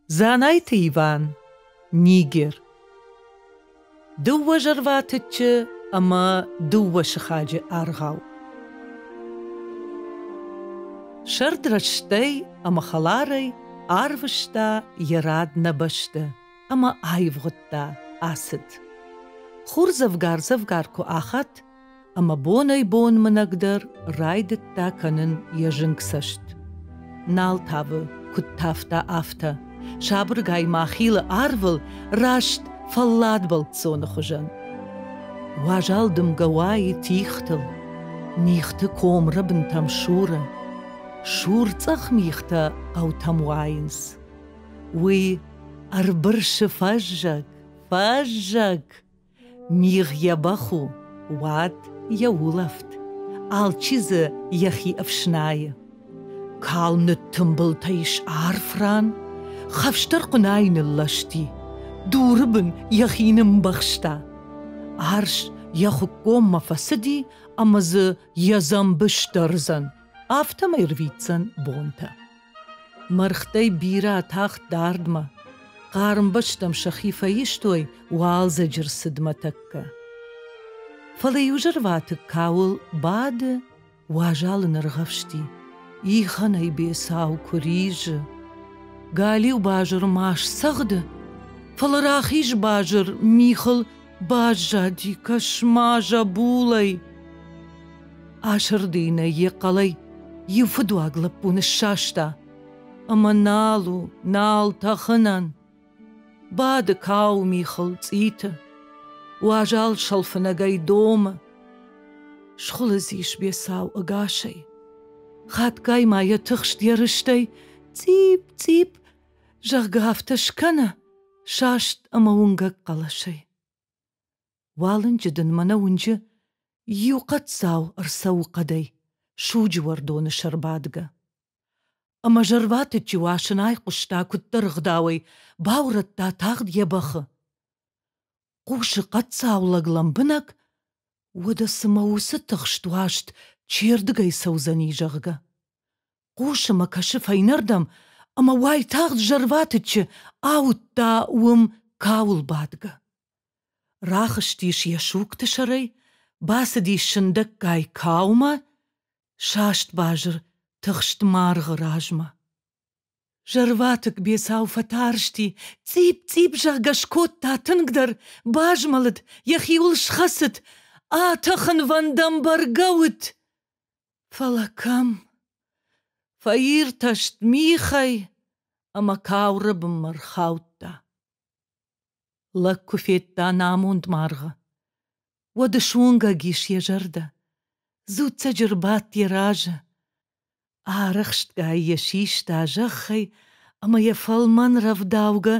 Дзанайты Иван, Нигер. Дыууӕ зӕрватыччы ӕмӕ дыууӕ сыхаджы аргъау. Сӕрд рӕстӕй ӕмӕ хӕларӕй арвыста йӕ рад нӕ бӕсты ӕмӕ аивгъуыдта ацыд. Хур дзӕвгар-дзӕвгар куы ахӕтт, ӕмӕ бонӕй-бон мынӕг дӕр райдыдта кӕнын йӕ зынг цӕст. Нал тавы, куыд тавта, афтӕ. Сабыргай ма хилы арвыл, раст фӕллад бӕлццоны хуызӕн. Уазал дымгӕ уайы тихтыл, мигъты комры бынтӕм суры. Сурцъӕх мигътӕ хъӕутӕм уайынц. Уый ӕрбырсы фӕззӕг, фӕззӕг. Мигъ йӕ бӕх у, уӕд йӕ улӕфт, алчи дзы йӕхи ӕфснайы. Калм ныттымбылтӕ ис арф ран, хӕфсдӕр хъуынайы нылласти, дуры бын йӕхи нымбӕхста. Арс йӕ хуыккоммӕ фӕцыди ӕмӕ дзы йӕ дзӕмбы сдӕрдзӕн, афтӕмӕй рвитдзӕн бонтӕ. Мӕргътӕй бирӕ атахт дардмӕ. Хъарм бӕстӕм сӕхи фӕистой уалдзӕджы рцыдмӕ тӕккӕ. Фӕлӕ иу зӕрватыкк кауыл бады, уазалы ныргъӕвсти. Ихӕнӕй бецау куы ризы. Галиу базыр ма сцӕгъды, фӕлӕ рахиз базыр михыл Баззади кӕсма зӕбулӕй. Асырдыйынӕй йӕ хъӕлӕй иу фыдуаг лӕппу ныссаста ӕмӕ нал у, нал тӕхынӕн. Бады кауы михыл цъиты, уазал сӕлфынӕгӕй домы. Схуылыдзис бецау ӕгасӕй. Хатгай ма йӕ тыхст йӕ рыстӕй цъип-цъип зӕгъгӕ, афтӕ скӕна саст ӕмӕ уынгӕг хъӕлӕсӕй. Уалынджы дын мӕнӕ уынджы иу хъӕццау ӕрцӕуы хъӕдӕй, суджы уӕрдоны сӕр бадгӕ. Ӕмӕ зӕрватыччы уасын айхъуыста куыддӕр ӕгъдауӕй, баурӕдта тагъд йӕ бӕхы. Хъусы хъӕццау лӕг лӕмбынӕг, уӕдӕ цымӕ уыцы тыхст уаст чердыгӕй цӕудзӕни, зӕгъгӕ. Хъусы мӕ кӕсы фӕйнӕрдӕм, ӕмӕ уайтагъд зӕрватыччы ауыдта уым кауыл бадгӕ. Рахызтис йӕ сугты сӕрӕй, бацыдис сындӕггай каумӕ, саст базыр тыхст маргъы размӕ. Зӕрватыкк бецау фӕтарсти, цъипп-цъипп зӕгъгӕ скодта тынгдӕр, базмӕлыд, йӕхиуыл схӕцыд, атӕхынвӕндӕм бӕргӕ уыд. Фӕлӕ кӕм? Фӕиртӕст михӕй ӕмӕ кауры бынмӕ рхаудта. Лӕг куы федта нӕ амонд маргъы, уӕд ысуынгӕг ис йӕ зӕрдӕ, дзуццӕджы рбадт йӕ разы, арӕхстгай йӕ систа зӕххӕй ӕмӕ йӕ фӕлмӕн рӕвдаугӕ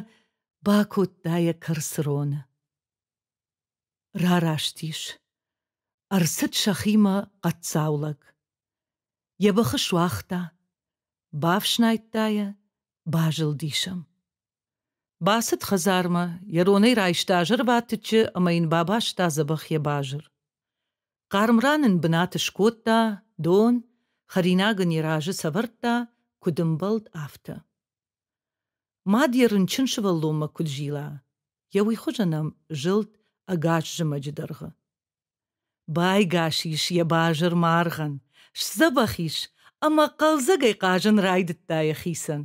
бакодта йӕ кӕрцроны. Рараст ис. Ӕрцыд сӕхимӕ хъӕццау лӕг. Йӕ быхы суагъта. Бафснайдта йӕ, базылдис ӕм. Бацыд хӕдзармӕ, йӕ ронӕй райста зӕрватыччы ӕмӕ йын бабаста дзӕбӕх йӕ базыр. Хъарм ран ын бынат скодта, дон, хӕринаг ын йӕ разы сӕвӕрдта, куыд ӕмбӕлд, афтӕ. Мад йӕ рынчын сывӕллонмӕ куыд зила, йӕ уый хуызӕн ӕм зылд ӕгас зымӕджы дӕргъы. Байгас ис йӕ базыр маргъӕн, сдзӕбӕх ис ӕмӕ хъӕлдзӕгӕй хъазын райдыдта йӕхицӕн.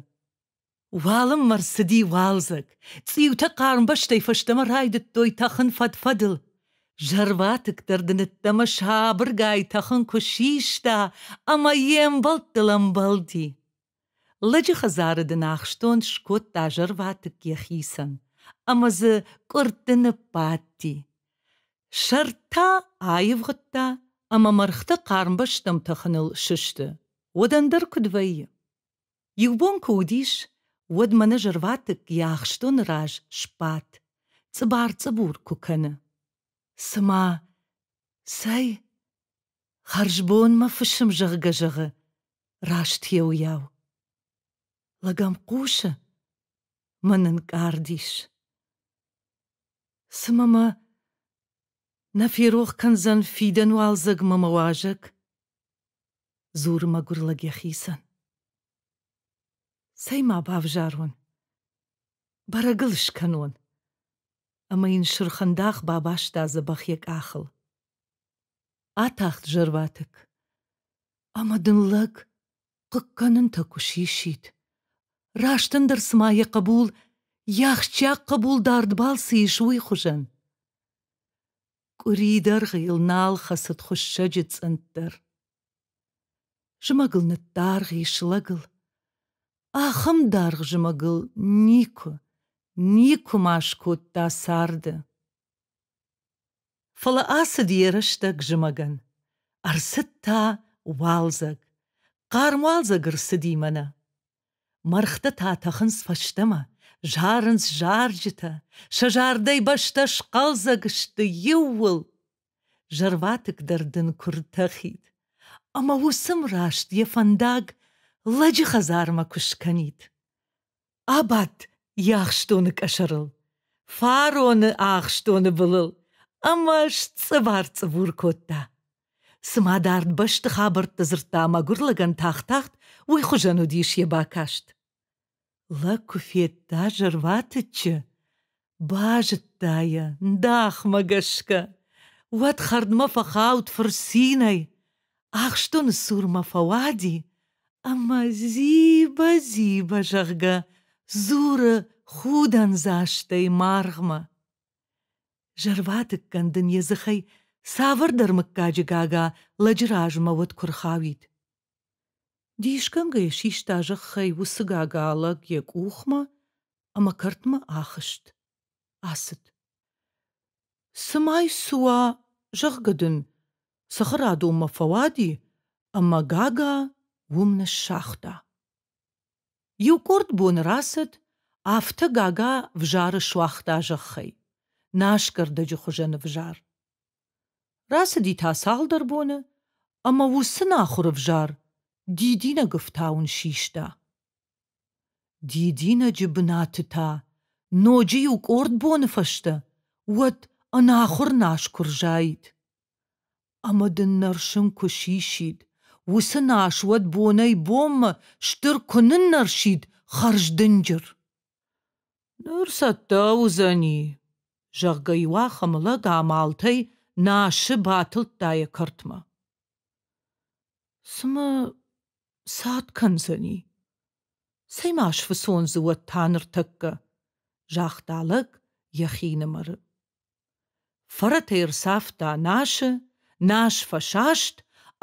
Уалынмӕ рцыди уалдзӕг, цъиутӕ хъармбӕстӕй фӕстӕмӕ райдыдтой тӕхын фӕд-фӕдыл. Зӕрватыкдӕр дынӕттӕмӕ сабыргай тӕхын куы систа ӕмӕ йе мбӕлттыл ӕмбӕлди. Лӕджы хӕдзары дын ахстон скодта зӕрватыкк йӕхицӕн, ӕмӕ дзы къуыртты ныббадти. Сӕрд та аивгъуыдта ӕмӕ мӕргъты хъарм бӕстӕм тӕхыныл сысты. Уӕд ӕндӕр куыд вӕййы? Иу бон куы уыдис, уӕд мӕнӕ зӕрватыкк йӕ ахстоны раз сбадт, цъыбар-цъыбур куы кӕны. Цымӕ цӕй? Хӕрзбон мӕ фысым, зӕгъгӕ, зӕгъы, раст еуйау. Лӕгӕм хъусы, мӕн ӕнкъард ис. Цымӕ мӕ нӕ ферох кӕндзӕн фидӕн уалдзӕг мӕ мӕ уазӕг? Дзуры мӕгуыр лӕг йӕхицӕн. Цӕй ма бавзарон? Бӕрӕг ыл скӕнон. Ӕмӕ йын сырхӕндах бабаста дзӕбӕх йӕ къахыл. Атахт зӕрватыкк. Ӕмӕ дын лӕг хъыгкӕнынтӕ куы сисид. Раст ӕндӕр цыма йӕ хъӕбул, йе ахсджиаг хъӕбул дардбӕл цы ис, уый хуызӕн. Къуыри дӕргъы йыл нал хӕцыд хуыссӕджы цъынд дӕр. Зымӕгыл ныддаргъ ис лӕгыл. Ахӕм даргъ зымӕгыл никуы, никуы ма скодта царды. Фӕлӕ ацыд йӕ рӕстӕг зымӕгӕн. Ӕрцыд та уалдзӕг. Хъарм уалдзӕг ӕрцыди мӕнӕ. Мӕргътӕ та тӕхынц фӕстӕмӕ, зарынц зарджытӕ, сӕ зардӕй бӕстӕ схъӕлдзӕг сты иууыл. Зӕрватыкк дӕр дын куы ртӕхид. Ӕмӕ уысм раст йӕ фӕндаг лӕджы хӕдзармӕ куы скӕнид. Абадт йӕ ахстоны къӕсӕрыл, фароны ахстоны былыл ӕмӕ сцъывар-цъывур кодта. Цыма дард бӕсты хабӕртты дзырдта мӕгуыр лӕгӕн тагъд-тагъд, уый хуызӕн уыдис йӕ бакаст. Лӕг куы федта зӕрватыччы, Базыдта йӕ Ndахмӕ гӕсгӕ. Уӕд хӕрдмӕ фӕхауд фырцинӕй, ахстоны цурмӕ фӕуади ӕмӕ Зиба-Зиба, зӕгъгӕ, дзуры худӕндзастӕй маргъмӕ. Зӕрватыккӕн дын йӕ дзыхӕй цавӕрдӕр мыггаджы гага лӕджы размӕ уӕд куы рхауид. Дисгӕнгӕ йӕ систа зӕххӕй уыцы гага лӕг йӕ къухмӕ ӕмӕ кӕртмӕ ахызт. Ацыд. Цымӕй цы уа, зӕгъгӕ дын, цыхырадонмӕ фӕуади, ӕмӕ Гага уым ныссагъта. Иу къорд боны рацыд, афтӕ Гага взары суагъта зӕххӕй, насгӕрдӕджы хуызӕн ӕвзар. Рацыди та цалдӕр боны, ӕмӕ уыцы нахуыр ӕвзар дидинӕг ӕфтауын систа. Дидинӕджы бынаты та ноджы иу къорд боны фӕстӕ уӕд ӕнахуыр насгуырзаид. Ӕмӕ дын нӕрсын куы сисид, уыцы нас уӕд бонӕй-бонмӕ стыр куы ныннӕрсид хӕрздынджыр. Ныр цӕттӕ уыдзӕни, зӕгъгӕ, иуахӕмы лӕг амалтӕй насы батылдта йӕ кӕртмӕ. Цымӕ Цад кӕндзӕни? Цӕй-ма сфыцондзы уӕд та ныртӕккӕ? загъта лӕг йӕхинымӕры. Фӕрӕтӕй ӕрцавта насы, нас фӕсаст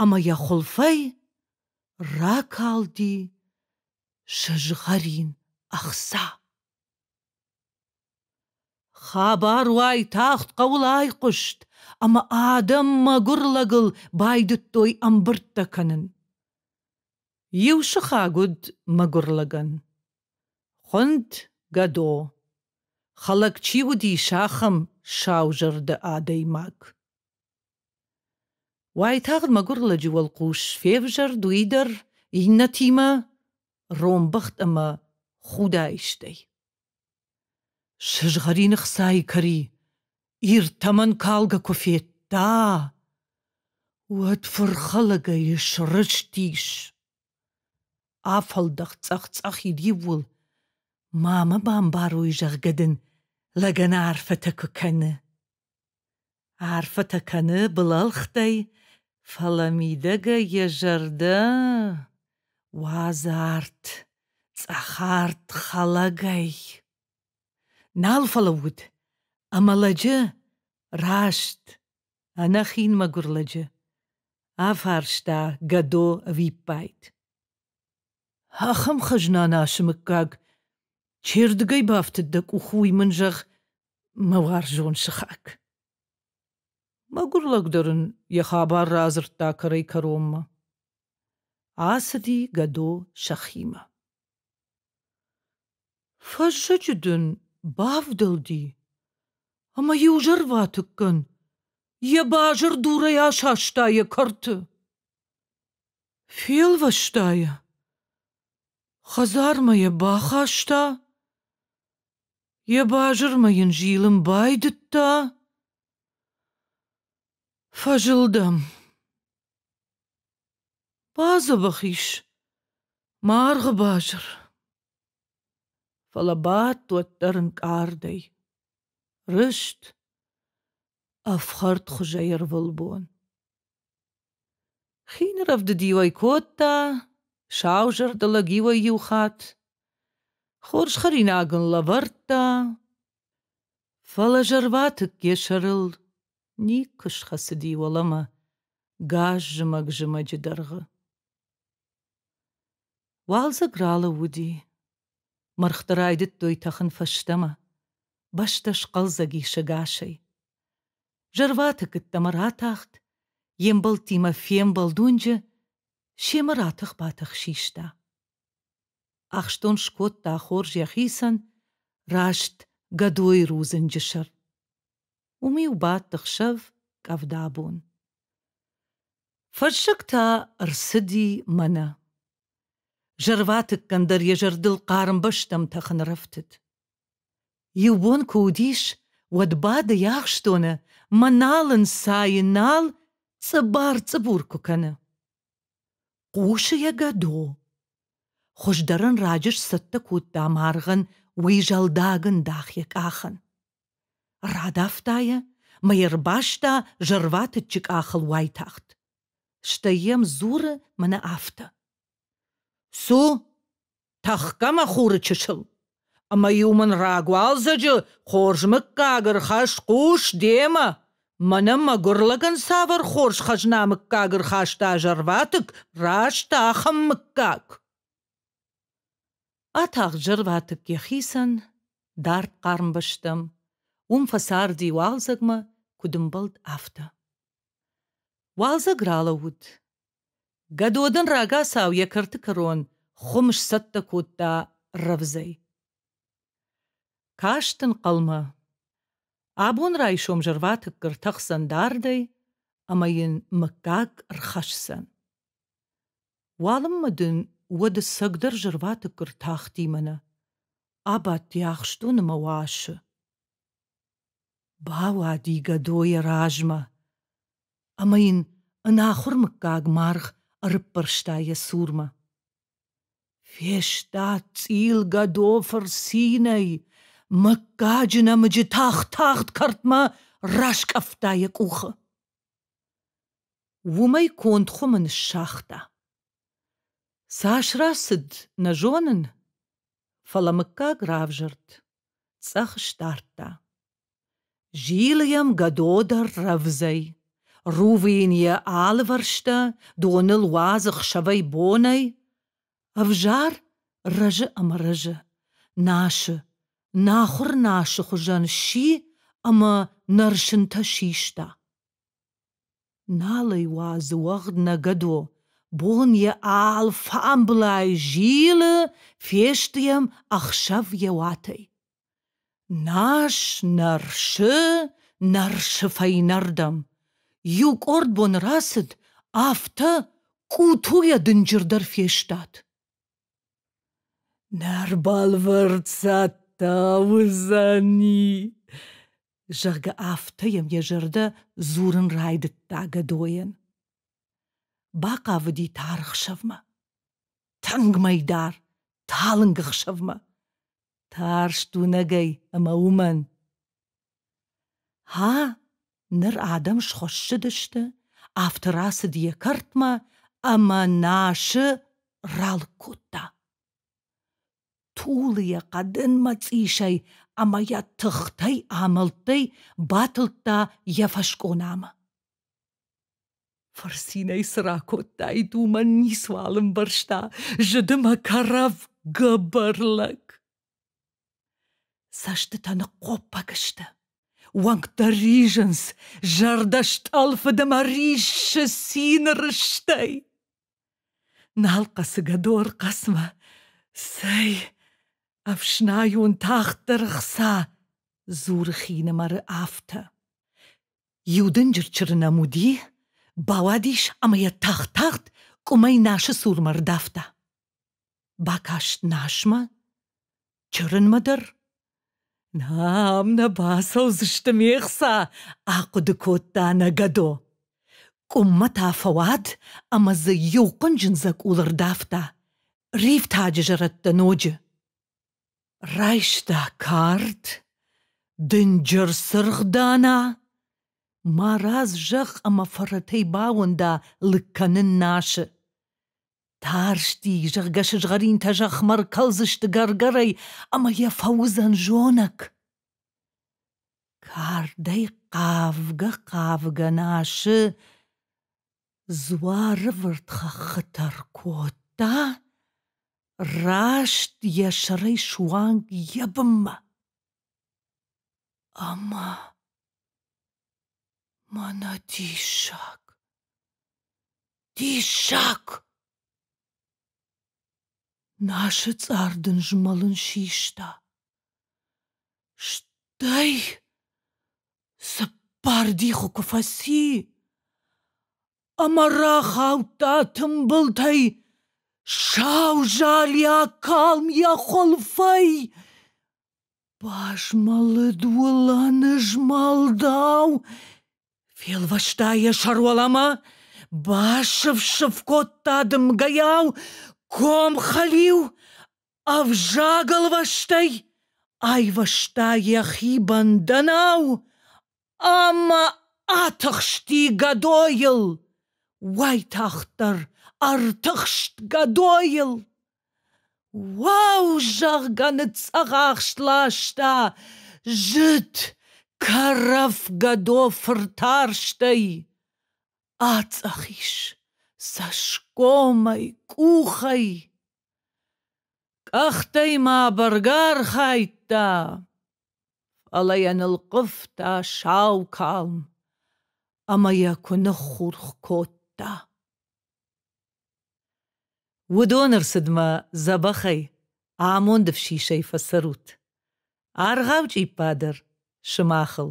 ӕмӕ йӕ хуылфӕй ракалди сызгъӕрин ӕхца. Хабар уай тагъд хъӕуыл айхъуыст, ӕмӕ адӕм мӕгуыр лӕгыл байдыдтой ӕмбырдтӕ кӕнын. Иу сыхаг уыд мӕгуыр лӕгӕн. Хуынд Гӕдо. Хӕлӕг чи уыдис, ахӕм саузӕрдӕ адӕймаг. Уайтагъд мӕгуыр лӕджы уӕлхъус февзӕрд уый дӕр иннӕтимӕ ронбӕхт ӕмӕ худаистӕй. Сызгъӕрины хцайы кӕри Ир тӕмӕн калгӕ куы федта, уӕд фырхӕлӕгӕй срызтис. Афӕлдӕх цъӕх-цъӕхид иууыл, ма мӕ бамбарой, зӕгъгӕ дын лӕгӕн арфӕтӕ куы кӕны. Арфӕтӕ кӕны былӕлхтӕй, фӕлӕ мидӕгӕй йӕ зӕрдӕ уадзы арт, цъӕхарт хӕлӕгӕй. Нал фӕлӕууыд, ӕмӕ лӕджы раст, ӕнӕхин мӕгуыр лӕджы, афарста Гӕдо ӕвиппайд. Ахӕм хӕзна, Насы мыггаг, чердыгӕй бафтыд дӕ къухы, уый мын зӕгъ, мӕ уарзон сыхаг. Мӕгуыр лӕг дӕр ын йӕ хабар радзырдта кӕрӕй-кӕронмӕ. Ацыди Гӕдо сӕхимӕ. Фӕззӕджы дын бавдӕлди, ӕмӕ иу зӕрватыккӕн йӕ базыр дурӕй асаста йӕ кӕрты. Фелвӕста йӕ, хӕдзармӕ йӕ бахаста, Йӕ базырмӕ йын зилын байдыдта? Фӕзылдӕм. Бадзӕбӕх ис. Маргъы базыр. Фӕлӕ бадт уӕддӕр ӕнкъардӕй. Рыст. Ӕфхӕрд хуызӕй ӕрвылбон. Хин рӕвдыд-иуӕй кодта, сау зӕрдӕ лӕг-иуӕй иу хатт. Хорз хӕринаг ын лӕвӕрдта, фӕлӕ зӕрватыкке сӕрыл никуы схӕцыди уӕлӕмӕ газ зымӕг-зымӕджы дӕргъы. Уалдзӕг ралӕууыди. Мӕргъты райдыдтой тӕхын фӕстӕмӕ. Бӕстӕ схъӕлдзӕг ис ӕгасӕй. Зӕрваты кыддӕмӕ ратахт, йе мбӕлттимӕ фембӕлд уынджы, семӕ ратых-батых систа. Ахстон скодта хорз йӕхицӕн, раст Гӕдойы рудзынджы сӕр. Уым-иу бадт ӕхсӕв къӕвдабон. Фӕрсыг та рцыди мӕнӕ. Зӕрватыккӕн дӕр йӕ зӕрдыл хъарм бӕстӕм тӕхын рӕфтыд. Иу бон куы уыдис, уӕд бады йӕ ахстоны, мӕнал ын сайы нал, цъыбар-цъыбур куы кӕны. Хъусы йӕ гӕдо. Хуыздӕр ын раджы сцӕттӕ кодта маргъӕн уый зӕлдагӕн дах йӕ къахын. Радавта йӕ, мӕ йӕ рбаста зӕрватыччы къахыл уайтагъд. Стӕй йӕм дзуры мӕнӕ афтӕ. Цу, тӕхгӕ-ма хуры чысыл, ӕмӕ-иу мын рагуалдзӕджы хорз мыггаг ӕрхӕсс-хъус демӕ, мӕнӕ мӕгуыр лӕгӕн цавӕр хорз хӕзна мыггаг ӕрхаста зӕрватыкк, раст ахӕм мыггаг. Атагъд зӕрватыкк йӕхицӕн, дард хъарм бӕстӕм, уым фӕцарди уалдзӕгмӕ, куыд ӕмбӕлд, афтӕ. Уалдзӕг ралӕууыд, Гӕдодын рагацау йӕ кӕрты кӕрон хуым сцӕттӕ кодта рӕвдзӕй. Каст ын хъӕлмӕ. Абон райсом зӕрватыкк ӕртӕхдзӕн дардӕй ӕмӕ йын мыггаг рхӕсдзӕн. Уалынмӕ дын уӕд ӕцӕгдӕр зӕрватыкк ӕртахти мӕнӕ. Абадти ахстоны мӕ уасы. Бауади гӕдо йӕ размӕ. ӕмӕ йын ӕнахуыр мыггаг маргъ ӕрыппӕрста йӕ цурмӕ. Фестад цъилгӕдофыр цинӕй, мыггаджы нӕмыджы тагъд-тагъд кӕртмӕ раскъӕфта йӕ къухы. Уымӕй конд хуымы ныссагъта. Цас рацыд, нӕ зонын, фӕлӕ мыггаг равзӕрд, цъӕх сдардта. Зилы йӕм гӕдодӕр рӕвдзӕй. Рувы йын йӕ алывӕрстӕ, доныл уадзы хсӕвӕй бонӕй. Ӕвзӕр рӕзы ӕмӕ рӕзы, насы, нахуыр насы хуызӕн сси ӕмӕ нӕрсынтӕ систа. Нал ӕй уадзы уӕгъд нӕ гӕдо, бон йӕ алфамблай зилы, фесты йӕм ӕхсӕв йӕ уатӕй. Нас нӕрсы, нӕрсы фӕйнӕрдӕм. Иу къорд боны рацыд, афтӕ къутуйӕ дынджырдӕр фестад. Нӕ рбӕлвырддзӕт та уыдзӕни, зӕгъгӕ, афтӕ йӕм йӕ зӕрдӕ дзурын райдыдта Гӕдойӕн. Бахъавыди таргъ сӕвмӕ. Тынг мӕйдар, талынг ӕхсӕвмӕ. Тарст уынӕгӕй ӕмӕ уымӕн. Ха, ныр адӕм схуыссыдысты, афтӕ рацыд йӕ кӕртмӕ ӕмӕ Насы ралыг кодта. Тулы йӕ хъӕдын мӕцъисӕй ӕмӕ йӕ тыхтӕй-амӕлттӕй батылдта йӕ фӕскъонамӕ. Фырцинӕй цы ракодтаид, уымӕн ницуал ӕмбӕрста зыды мӕ кӕрӕф гӕбӕр лӕг. Цӕстытӕ ныхъхъоппӕг сты. Уӕнгтӕ ризынц, зӕрдӕстъӕлфыд ӕмӕ риссы цины рыстӕй. Нал хъӕцыгӕ дор хъӕцмӕ. Цӕй, ӕфснайон тагъддӕр хца, дзуры хинымӕры афтӕ. Иу дынджыр чыры нӕм уыди, бауадис ӕмӕ йӕ тагъд-тагъд къуымӕй Насы цурмӕ ӕрдавта. Бакаст Насмӕ, чырынмӕ дӕр. Нӕм нӕ бацӕудзысты, ме хца! ахъуыды кодта Нагадо. Къуыммӕ та фӕуад ӕмӕ дзы иу хъуынджын дзӕкъул ӕрдавта. Ривтаджы зӕрӕдтӕ ноджы. Райста кард, дынджыр цыргъдана, марадз зӕхх ӕмӕ фӕрӕтӕй бауында лыг кӕнын Нашы. Тарсти, зӕгъгӕ, сызгъӕринтӕ зӕхмӕ ркӕлдзысты гӕргӕрӕй ӕмӕ йӕ фӕуыдзӕн зонӕг. Кардӕй хъавгӕ-хъавгӕ Нашы Дзуарывырд хӕххытӕ ркодта, раст йӕ сӕрӕй суанг йӕ бынмӕ. Ӕмӕ мӕнӕ диссаг, диссаг! Нашы цъар дын змӕлын систа. Стӕй Цыппар дихы куы фӕци, ӕмӕ рахаудта тымбылтӕй сау залиа калм йӕ хуылфӕй. Базмӕлыд уылӕны змӕлдау, фелвӕста йӕ сӕруӕлӕмӕ, басыф-сыф кодта дымгӕйау, ком хӕлиу Ӕвзаг ӕлвӕстӕй айвӕзта йӕхи бӕндӕнау ӕмӕ атыхсти гӕдойыл, уайтагъддӕр ӕртыхст гӕдойыл. Уау, зӕгъгӕ, ныццӕгъӕхст ласта зыд кӕрӕф гӕдо фыртарстӕй. Ацъӕх ис цӕсгомӕй, къухӕй. Къӕхтӕй ма бӕргӕ архайдта, фӕлӕ йӕ нылхъывта сау калм ӕмӕ йӕ куы ныххурх кодта. Уыдоны рцыдмӕ дзӕбӕхӕй амонд ӕфсисӕй фӕцӕрут, аргъау чъиппа дӕр сымахыл.